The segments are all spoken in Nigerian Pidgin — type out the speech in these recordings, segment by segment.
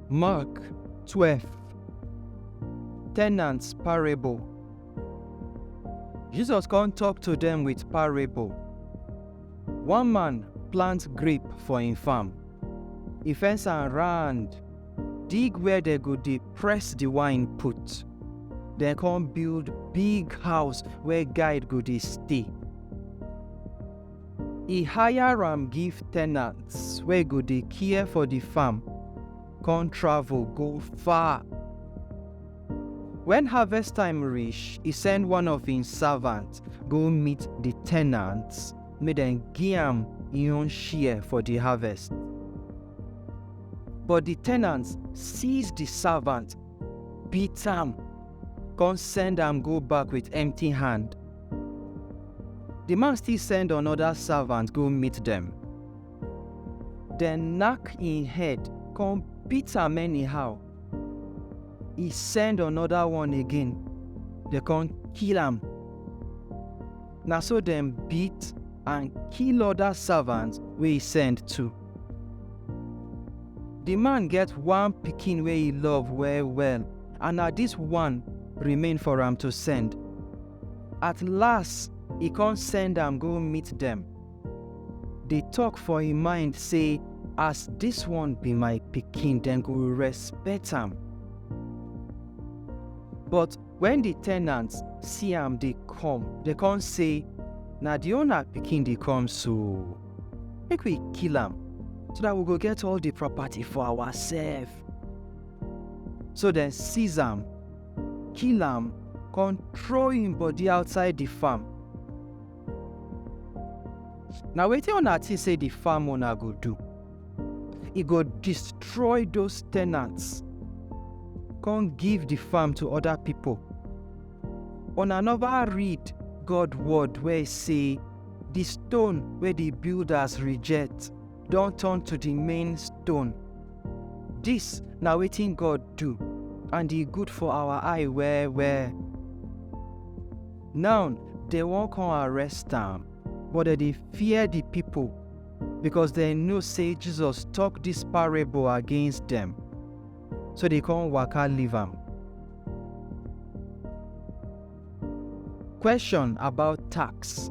Mark 12 Tenants Parable Jesus come talk to them with parable. One man plant grape for him farm, E fence am round, dig where dem go dey press the wine put. Dem come build big house where guide go dey stay. E hire am give tenants wey go dey care for the farm, come travel go far. When harvest time reach, e send one of im servant go meet the tenants make dem gi am im own share for di harvest. But di tenants seize di savant, beat am, kon send am go back with empty hand. Di man still send anoda savant go meet dem. Dem nack im head kon beat am anyhow. E send anoda one again, dem kon kill am. Na so dem beat and kill other servants wey he send too. The man get one pikin wey he love well well and na this one remain for am to send. At last, he come send am go meet them. Dey talk for him mind say as this one be my pikin dem go respect am. But Wen di tenants see am dey come, dem kon sey, Na di owner pikin dey come so! Make we kill am, so dat we go get all di property for awasef. So dem seize am, kill am, kon trow im body outside di farm. Na wetin una think say the farm owner go do? He go destroy those tenants, come give the farm to other people. Una never read God word wey say the stone wey the builders reject don turn to the main stone. This na wetin God do and e good for our eye well well. Now, dem wan come arrest am, but dem dey fear di pipo, becos dem know sey Jesus tok dis parable against dem, so dem come waka leave am. Question about tax.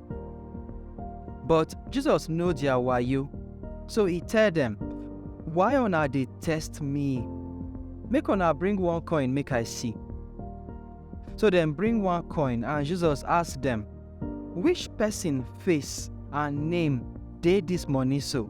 But Jesus know their wayo, so he tell them, Why una dey test me? Make una bring one coin make I see. So dem bring one coin and Jesus ask dem, Which person face and name dey this money so?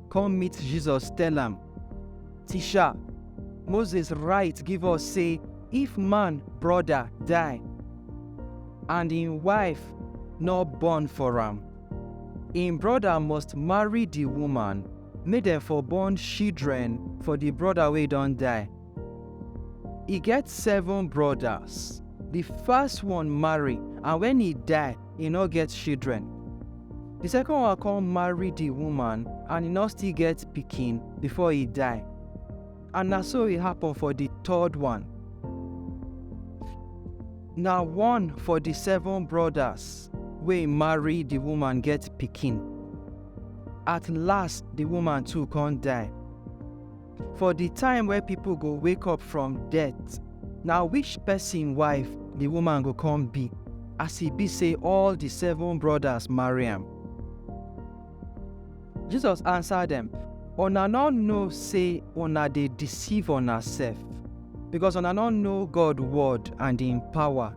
come meet Jesus, tell am, Teacher, Moses write give us say if man brother die and im wife no born for am, im brother must marry the woman make dem for born children for the brother wey don die. E get seven brothers. The first one marry and when e die, e nor get shidren. Di sekon one kon marry di wuman and e nor still get pikin before e die. And na so e happen for di third one. Na one for di seven brodas wey marry di wuman get pikin. At last di wuman too kon die. For di time wey pipo go wake up from death, na which pesin wife di woman go come be, as e be sey all di seven brodas marry am? Jesus ansa dem, Una nor know sey una dey deceive unasef, becos una nor know God word and im power.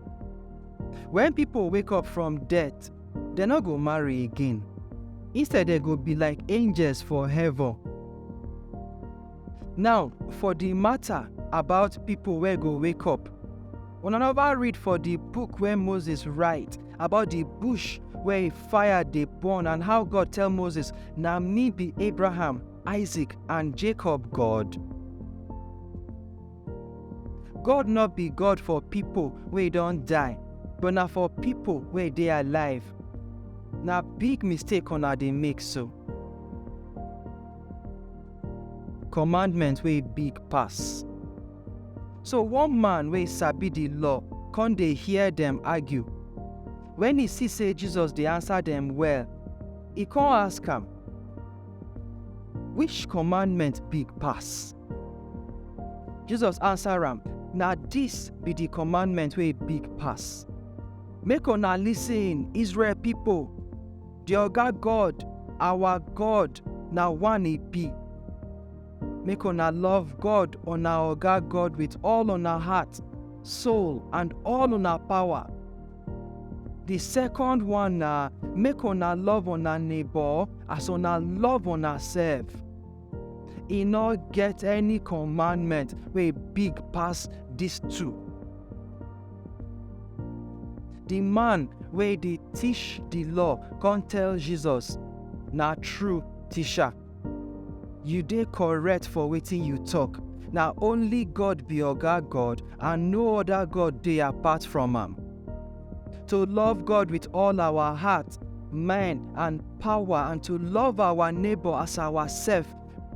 Wen pipo wake up from death, Dem no go marry again, instead dem go be like angels for heaven. Now, for di mata about pipo wey go wake up, una neva read for di book wey Moses write about di bush wey fire dey burn and how God tell Moses, Na me be Abraham, Isaac and Jacob God? God no be God for pipo wey don die, but na for pipo wey dey alive. Na big mistake una dey make so. Commandment wey big pass. So one man wey sabi di law kon dey hear dem argue. Wen e see sey Jesus dey ansa dem well, e kon ask am, Which commandment big pass? Jesus answer am, Na dis be di commandment wey big pass. Make una listen, Israel pipo, di Oga God, our God, na one e be. Make una love God, una Oga God, with all una heart, soul, and all una power. Di second one na make una love una neighbor as una love una sef. e no get any commandment wey big pass dis two. Di man wey dey teach di law come tell Jesus, Na true, Teacher. You dey correct for wetin you talk. Na only God be Oga God and no other God dey apart from am. to love God with all our heart, mind, and power, and to love our neighbor as ourself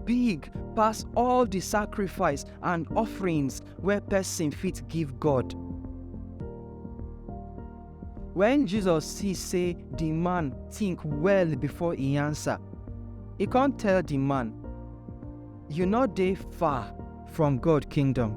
big pass all the sacrifice and offerings where person fit give God. When Jesus see say the man think well before he answer, he can't tell the man, you not dey far from God kingdom.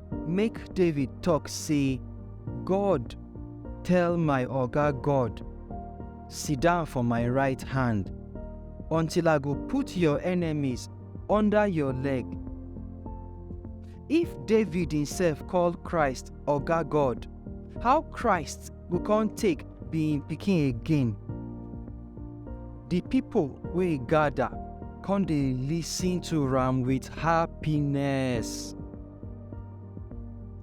Make David talk say, God tell my oga God, sit down for my right hand, until I go put your enemies under your leg. If David himself call Christ oga God, how Christ go come take be im pikin again. Di pipo wey gada come dey listen to am wit happiness.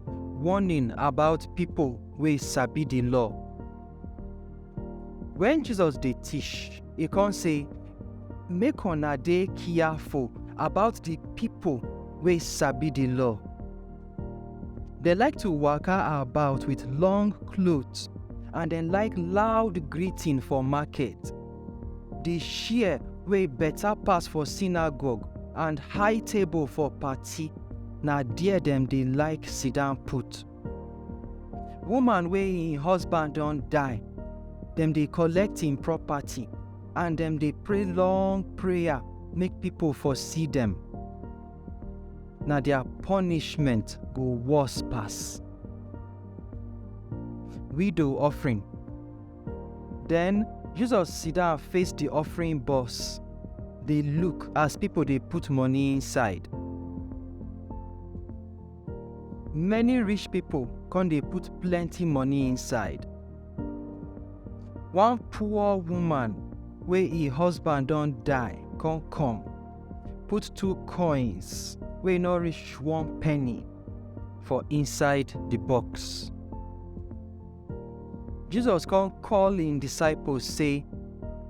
Warning about pipo wey sabi di law. Wen Jesus dey teach, e come say, Make una dey careful about di pipo wey sabi di law. Dem like to waka about with long clothes and dem like loud greeting for market. The share wey better pass for synagogue and high table for party, na there dem dey like sit down put. Woman wey im husband don die, dem dey collect im property and dem dey pray long prayer make people for see dem. na their punishment go worse pass. Widow offering. Then Jesus sit down face the offering box, dey look as people dey put money inside. Many rich people come dey put plenty money inside. One poor woman wey im husband don die come come. put two coins wey no reach one penny for inside the box. Jesus come call im disciples say,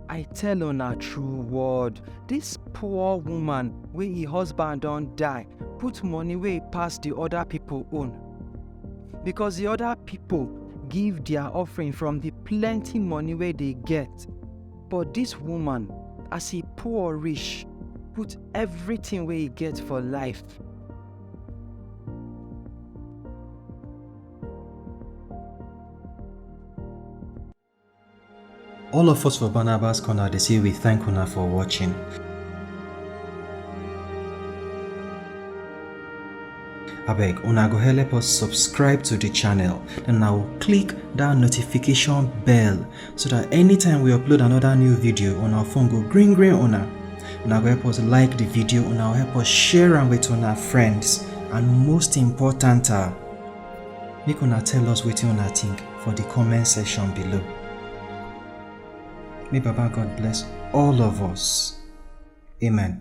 I tell una true word, this poor woman wey im husband don die put money wey pass the other people own. Because the other people give their offering from the plenty money wey they get, But dis woman, as e poor reach, put everything wey e get for life. All of us for Barnabas Corner dey say we thank una for watching. abeg una go help us subscribe to the channel then now click that notification bell so that anytime we upload another new video on our phone go green green una una go help us like the video una help us share them with our friends and most important uh, make una tell us what you una think for the comment section below may baba god bless all of us amen